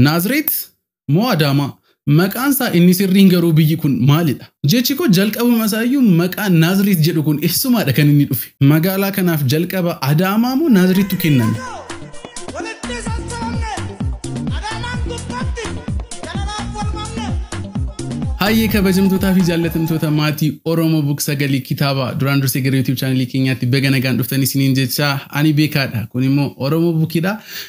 Naazreet moo Adaamaa? Maqaan isaa inni sirriin garuu biyyi kun maalidha? Jechi koo jalqabuma isaa iyyuu maqaan Naazreet jedhu kun eessumaadha kan inni dhufe? Magaalaa kanaaf jalqaba Adaamaa moo Naazreettu kenname? Walitti sassabamne Adaamaan gubbatti jalalaaf wal mamne. Hayyee kabajamtootaa fi jaallatamtoota maatii Oromoo Book Sagalee Kitaabaa duraan dursee gara YouTube chaanalii keenyaatti baga nagaan dhuftanii isiniin jechaa ani beekaadha. Kun immoo Oromoo Bukiidha.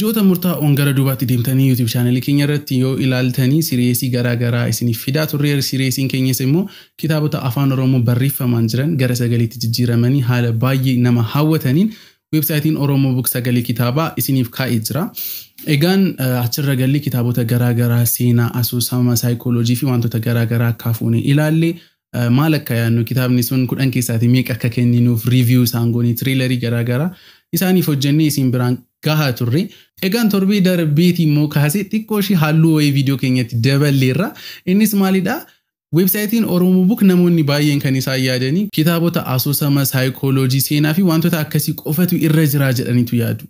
Ji'oota murtaa'oon gara duubaatti deemtanii YouTube channel keenya irratti yoo ilaaltanii siriyeesii garaa garaa isiniif fidaa turreer siriyeesiin keenyas immoo kitaabota afaan oromoo barreeffamaan jiran gara sagaleetti jijjiiramanii haala baay'ee nama hawwataniin weebsaayitiin oromoo book sagalee kitaabaa isiniif kaa'ee jira. Egaan achirra gallee kitaabota garaa garaa seenaa asoosama saayikooloojii fi wantoota garaa garaa akka hafuune ilaalle maal akka yaadnu kitaabni sun kudhan keessaatii meeqa akka kenninuuf riiviyuu isaan goonee tiriilarii garaa garaa isaaniif hojjennee isin biraan gahaa turre. Egaan torbee darbeetii immoo kaasee xiqqoo ishii halluu wayii viidiyoo keenyatti daballeerra. Innis maalidha? Weebsaayitiin Oromoo Book namoonni baay'een kan isaan yaadanii kitaabota asoosama, saayikooloojii, seenaa fi wantoota akkasii qofatu irra jiraa jedhaniitu yaadu.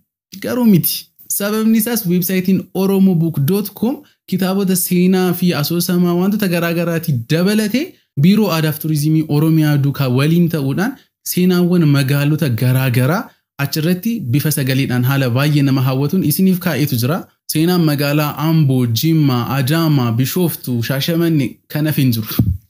Garuu miti. Sababni isaas weebsaayitiin oromobook.com kitaabota seenaa fi asoosamaa wantoota garaa garaati dabalate Biiroo Aadaaf Turizimii Oromiyaa duukaa waliin ta'uudhaan seenaawwan magaalota garaa garaa achirratti bifa sagaleedhaan haala baay'ee nama hawwatuun isiniif kaa'eetu jira. Seenaan magaalaa Amboo, Jimmaa, Adaamaa, Bishooftuu, Shaashamannee kan hafe hin jiru.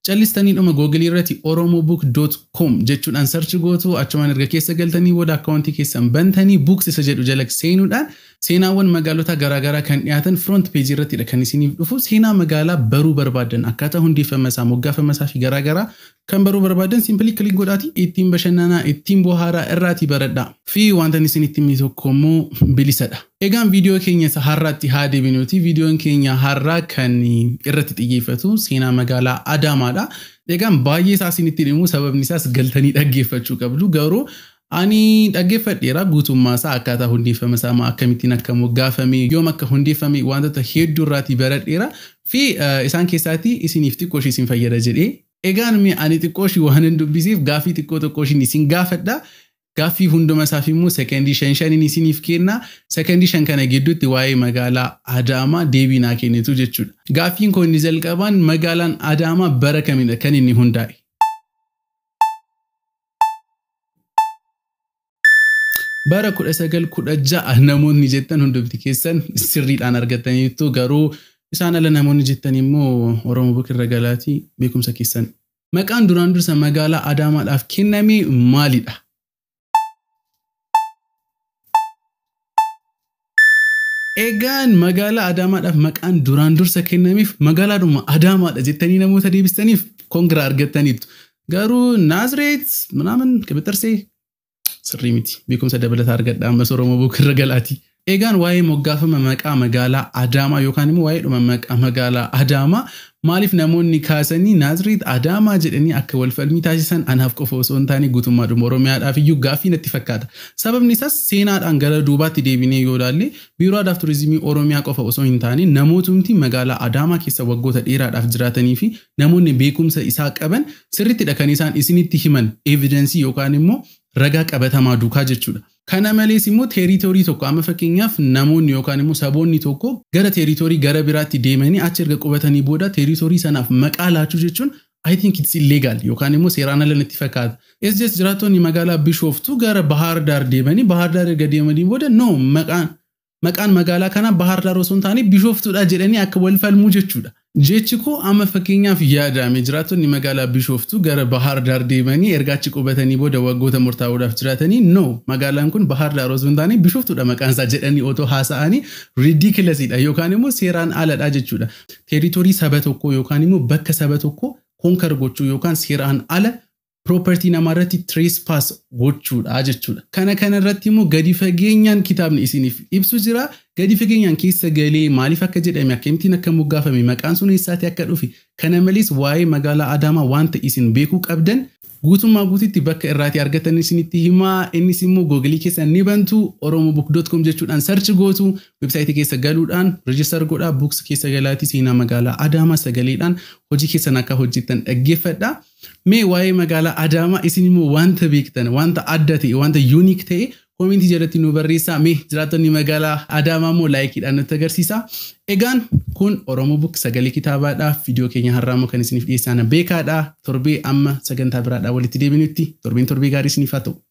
Callistanii dhuma Google irrati oromobook dot com jechuudhaan search gootu, achumaan erga keessa galtanii booda account keessan bantanii books isa jedhu jala seenuudhaan seenaawwan magaalotaa garaa garaa kan dhiyaatan front page irrattidha kan isiniif dhufu. Seenaa magaalaa baruu barbaaddan akkaataa hundeeffama isaa, moggaafama isaa fi garaa garaa Kan baruu barbaadan simply click godhaati ittiin bashannanaa ittiin bohaaraa irraati baradhaa. Fi wanta isin itti himne tokko immoo bilisadha. Egaan viidiyoo keenya isa har'aatti haa deebinuuti. Viidiyoon keenya har'aa kan irratti xiyyeeffatu seenaa magaalaa Adaamaadha. Egaan baay'ee isaa isinitti himu sababni isaas galtanii dhaggeeffachuu qabdu garuu Ani dhaggeeffadheera guutummaa isaa akkaataa hundeeffama isaa maa akkamittiin akka moggaafame yoom akka hundeeffame waantota hedduu irraatii baradheera fi isaan keessaatii isiniif xiqqoo ishii isin fayyada jedhee egaan mee ani xiqqoo ishii waanan dubbiseef gaaffii xiqqoo tokkoo ishiin isin gaafadha gaaffii hunduma isaaf immoo sekendii shan shanin isiniif kenna sekendii shan kana gidduutti waa'ee magaalaa Adaamaa deebii naa kennitu jechuudha gaaffiin koo inni jalqabaan magaalaan Adaamaa bara kamidha kan inni hundaa'e bara 1916 namoonni jettan hundumti keessan sirriidhaan argattaniittu garuu isaan ala namoonni jettan immoo Oromoo Bukirra Galaatii beekumsa keessan. Maqaan duraan dursa magaalaa Adaamaadhaaf kenname maalidha? Egaan magaalaa Adaamaadhaaf maqaan duraan dursa kennameef magaalaadhuma Adaamaadha jettanii namoota deebistaniif kongiraa argattaniittu. Garuu Naazireet minaamin qibixarsee sirrii miti. Beekumsa dabalataa argadha ammas Oromoo bookirra galaatii. Eegaan waa'ee moggaafama maqaa magaalaa Adaamaa yookaan immoo waa'eedhuma maqaa magaalaa Adaamaa maaliif namoonni kaasanii Naazreet Adaamaa jedhanii akka wal falmii taasisan anaaf qofa osoo hin taane guutummaadhuma Oromiyaadhaaf iyyuu gaaffii natti fakkaata. Sababni isaas seenaadhaan gara duubaatti deebinee yoo ilaalle Biiroo Aadaaf Turizimii Oromiyaa qofa osoo hin taane namootumti magaalaa Adaamaa keessa waggoota dheeraadhaaf jiraatanii fi namoonni beekumsa isaa qaban sirrittidha kan isaan isinitti himan evidensii yookaan immoo ragaa qabatamaa duukaa jechuudha. Kana malees immoo teeriitoorii tokko amma fakkeenyaaf namoonni yookaan immoo saboonni tokko gara teeriitoorii gara biraatti deemanii achi erga qubatanii booda teeriitoorii sanaaf maqaa laachuu jechuun I think it's illegal yookaan immoo seeraan ala natti fakkaata. SJS jiraattoonni magaalaa Bishooftuu gara Bahaar Daar deemanii Bahaar Daar erga deemanii booda no maqaan Maqaan magaalaa kanaa Bahaar Daar osoo hin taane Bishooftuudha jedhanii akka wal falmuu jechuudha. Jechi koo amma fakkeenyaaf yaadaame jiraattonni magaalaa Bishooftuu gara Bahaar Daar deemanii erga achi qubatanii booda waggoota murtaa'oodhaaf jiraatanii no magaalaan kun Bahaar Daar osoo hin taane Bishooftuudha maqaan isaa jedhanii otoo haasa'anii ridiculous-dha yookaan immoo seeraan aladha jechuudha. Territory saba tokkoo yookaan immoo bakka saba tokkoo conquer gochuu yookaan seeraan ala property namaarratti trespass gochuudha jechuudha. Kana kana irratti immoo gadi fageenyaan kitaabni isiniif ibsu jira. Gadi fageenyaan keessa galee maaliif akka jedhame akkamittiin akka moggaafame maqaan sun eessaatii akka dhufe kana malees waa'ee magaalaa Adaamaa wanta isin beekuu qabdan guutummaa guututti bakka irraatii argatan isinitti himaa innis immoo googilii keessan ni bantu oromobook.com jechuudhaan sarchi gootu websaayitii keessa galuudhaan reejistar godhaa buuks keessa galaatii seenaa magaalaa Adaamaa sagaleedhaan hojii keessan akka hojjettan dhaggeeffadha. Mee waa'ee magaalaa Adaamaa isin immoo wanta beektan, wanta adda ta'e, wanta unique ta'e koomentii jalatti nu barreessaa. Mee jiraattonni magaalaa Adaamaa immoo laayikiidhaan nutti agarsiisaa. Egaan kun Oromo Book sagalee kitaabaadha. Viidiyoo keenya har'aa immoo kan isiniif dhiyeessaan beekaadha. Torbee amma sagantaa biraadhaa walitti deebinutti torbeen torbee gaarii isiniif haa ta'u.